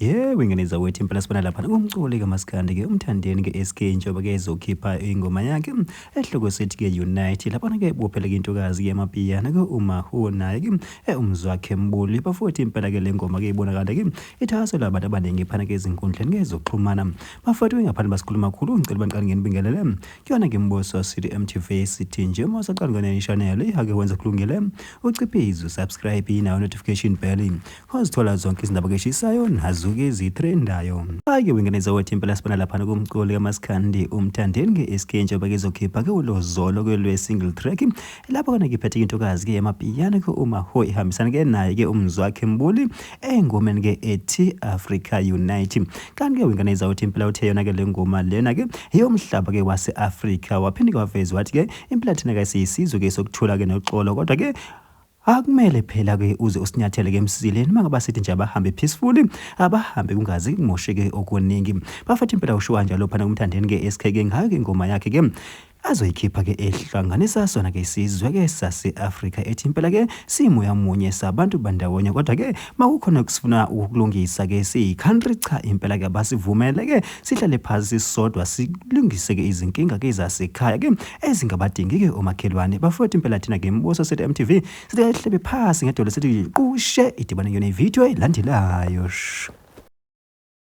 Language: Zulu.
Yebo ingane zakwethu impela sibona lapha ngumculi kamaskandi ke umthandeni ke SK njengoba ke ezokhipha ingoma yakhe ehloko sithi ke Unite lapha ke bophela ke intokazi ke mapiyana ke uma ho naye ke eh, umzwakhe mbuli bafowethu impela ke lengoma ke ibonakala ke ithaso labantu abaningi phana ke ezinkundleni ke zokuxhumana bafowethu ngaphandle basikhuluma kakhulu ngicela baniqale ngenibingelele kuyona ke mboso sithi MTV sithi nje uma usaqala ngane channel ihake wenza kulungele uciphizo subscribe nayo notification bell Wazithola zonke izindaba keshisayo nazuke zithrendayo. Ake wingeneza wathi impela sibona laphana kumculi kamaskandi umthandeni nge-SK njengoba kezokhipha ke ulozolo kwelwe-single track lapho kona ngiphethe intokazi ke yamapiyano ke umaho ihambisana ke naye ke umzwakhe mbuli engomeni ke ethi Africa Unite. Kanti ke wingeneza wathi impela uthe yona ke le ngoma lena ke yomhlaba ke wase-Africa waphinde ke waveza wathi ke impela thina ke siyisizwe ke sokuthula ke noxolo kodwa ke Akumele phela ke uze usinyathele ke emsileni uma ngaba sithi nje abahambe peacefully abahambe kungazi kumosheke okuningi bafethu impela usho kanjalo phana kumthandeni ke SK ke ngayo ke ingoma yakhe ke azoyikhipha ke ehlanganisa sona ke isizwe ke sase-afrika ethi impela ke simoya munye sabantu bandawonye kodwa ke makukhona kusifuna ukulungisa ke siyi-country cha impela ke abasivumele ke sihlale phansi sisodwa silungise ke izinkinga ke zasekhaya ke ezingabadingi-ke omakhelwane bafowethu impela thina ke mbuso sethu mtv silehlebe phasi ngedolo sithi qushe idibane yona ividiyo elandelayo